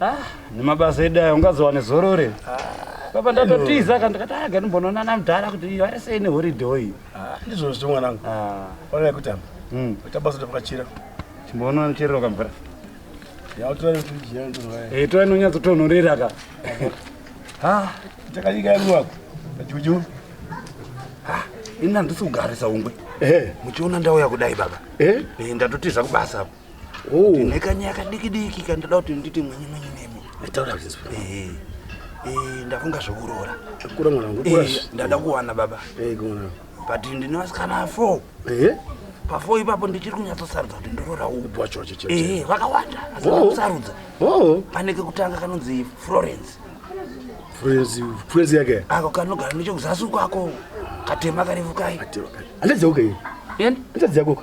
Ah, nemabasa edu ayo ungazowane zorore baba ndatotiza ka ndikati aga ndimbonoona namudhara kuti vari sei nehoride oyi ah, ndizvo zvo mwanangu ah. ona yekutamba hmm. ita basa tapakachira chimboona nocherero kamvura eh, tora inonyatsotonhorera ka ah. takanyika yangu wako pajuju ini handisi kugarisa ungwe eh. muchiona ndauya kudai baba eh. ndatotiza kubasa apo Oh. Nekanya kadikidiki kandoda kuti nditi mwenye mwenye nemi. Nditaura kuti nzwe. Eh. Eh, ndafunga zvokuroora. Kura mwana wangu. Eh, ndada kuwana baba. Eh, kuna. But ndine vasikana 4. Eh. Pafo ipapo ndichiri kunyatsosarudza kuti ndoroora upi wacho wacho chete. Eh, vakawanda. Asikusarudza. Oh. oh. Pane kekutanga kanonzi Florence. Florence, Florence yake. Ako kanogara nechokuzasi kwako. Katema karefu kai. Katema kai. Andadze uke. Yeni? Andadze yako.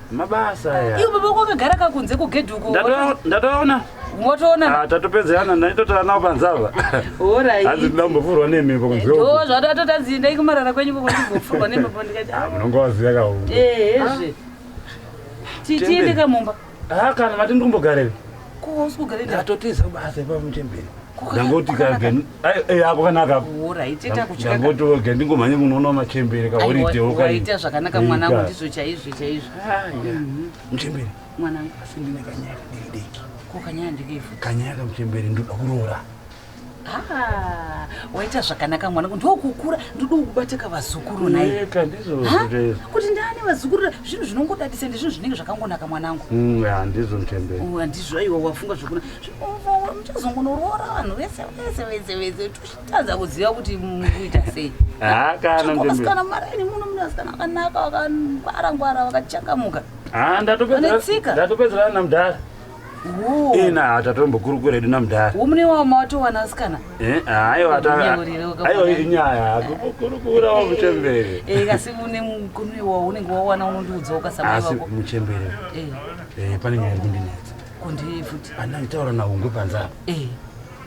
mabasa aya iwe baba wako akagara kakunze kugedhi uko ndatoona motoona ah, tatopedzerana ndaitotara nawo panzava orai hanzi ndida kumbofurwa nemhepo kunzeo eh, zvato atoti hanzi endai kumarara kwenyu koko ndimbofurwa nemhepo ndikati ah, munonga waziva kahu ehezve eh, ah. tiende kamumba ha kana mati ndiri kumbogarei ndatotiza kubasa ipamuchemberi ndangoti ako kanaka ndangoti oge ndingomhanye kunoona machembere kaoriteoita zvakanaka mwanangu ndizvo chaizvo chaizvo ah, mhm. muchembere mwanangu asi ndine kanyaya kadiki diki ko kanyaya ndikeifu kanyaya kamuchembere ndoda kuroora Ah, waita zvakanaka mwana kuti ndokukura ndodi kubateka vazukuru naye kuti ndani vazukuru zvinhu zvinongodadisa ndizvinhu zvinenge zvakangonaka mwanangu mm, handizvo mtembei oh, handizvo aiwa wafunga zvokuna muchazongonoroora vanhu vese vese vese vese tichitadza kuziva kuti mukuita sei hakanasikana maraini muno mune vasikana vakanaka vakangwara ngwara vakachangamuka ah, ndatopedzerana namdhara ina hatatombokurukura edu namdara umune wavo mawatowana asikana eh, aiwa inyaya kurukura wa muchembere eh, asi une mukunu iwawo unenge wawana unondiudzawo kasamasi muchembere eh. pane nyaya iri kundinetsa kundii futi ana itaura nahungwe panzapa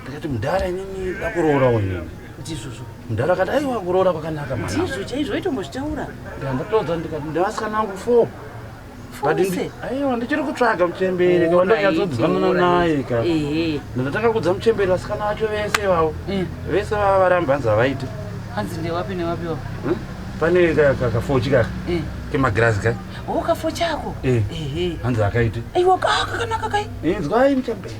ndikati mudhara inini dakuroorawo inini ndizvozvo mudhara akati aiwa kuroora kwakanaka mwana ndizvo chaizvo aitombozvitaura ndandatoudza ndikati ndevasikana vangu four aiwa ndichiri kutsvaga muchembere oh, kavandanyatsodzanana naye ka ndatanga kudza muchembere vasikana vacho vese vavo eh. vese vava varamba hanzi havaiti hanzi ndewapi newapi wa hm? pane kafochi kaka eh. kemagirazi ka o oh, kafochi ako eh. hanzi akaiti aiwa kakanaka kai inzwai muchembere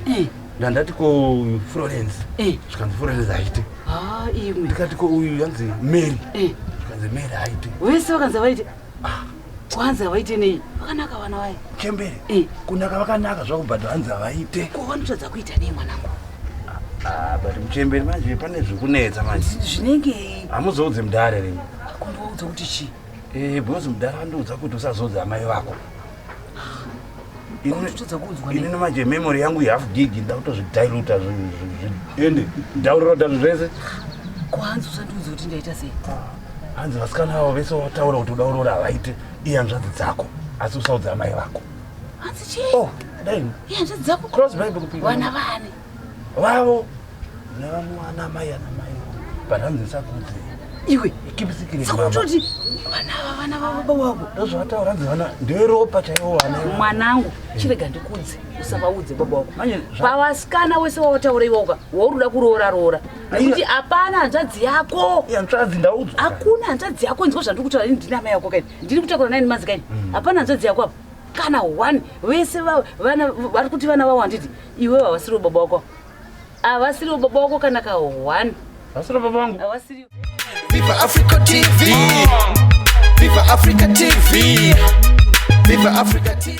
ndandati ko florence zvikanzi florence aite ah, ndikati ko uyu yanzi mary zvikanzi mary aite vese vakanzi vaite hanzi havaite nei vakanaka vana vaye chembere eh. kunaka vakanaka zvavo but hanzi havaite ko vanotadza kuita nei mwanangu ah, but muchembere manje pane zvikunetsa manje zvinenge hamuzoudze mudare rimwe akundiwaudza kuti chii eh, because mudare andiudza kuti usazoudze amai vako ini manje memory yangu yehalf gig ndakutozvidiluta ende downloada zvinhu zvese kwanzi usandiudzi kuti ndaita sei hanzi ah, vasikana avo vese wataura kuti udaurora havaite iyanzvadzi dzako asi usaudza amai vako hanzi chii oh, dai iyanzvadzi dzako cross bible kupivana vani vavo nevamwe vana mai ana mai panhanzi nsakudzi iwe ikipisikiresakuti vana ava vana vababa wako ndozvavataura nzi vana nderopa chaivo vana mwanangu chirega ndikudze usavaudze baba wako pavasikana wese wawataura iwoka wauruda kuroora roora nekuti hapana hanzvadzi yako hanzvadzi ndaudzwa hakuna hanzvadzi yako nzwa zvandiri kutaura ini ndini amai yako kaini ndiri kutakura naini manzi kaini mm. hapana hanzvadzi yako apa kana one vese vari kuti vana vavo handiti iwe havasiriwo baba wako havasiriwo baba wako kana ka one havasiriwo baba vangu havasiriwo Viva Africa TV. Viva Africa TV. Viva Africa TV.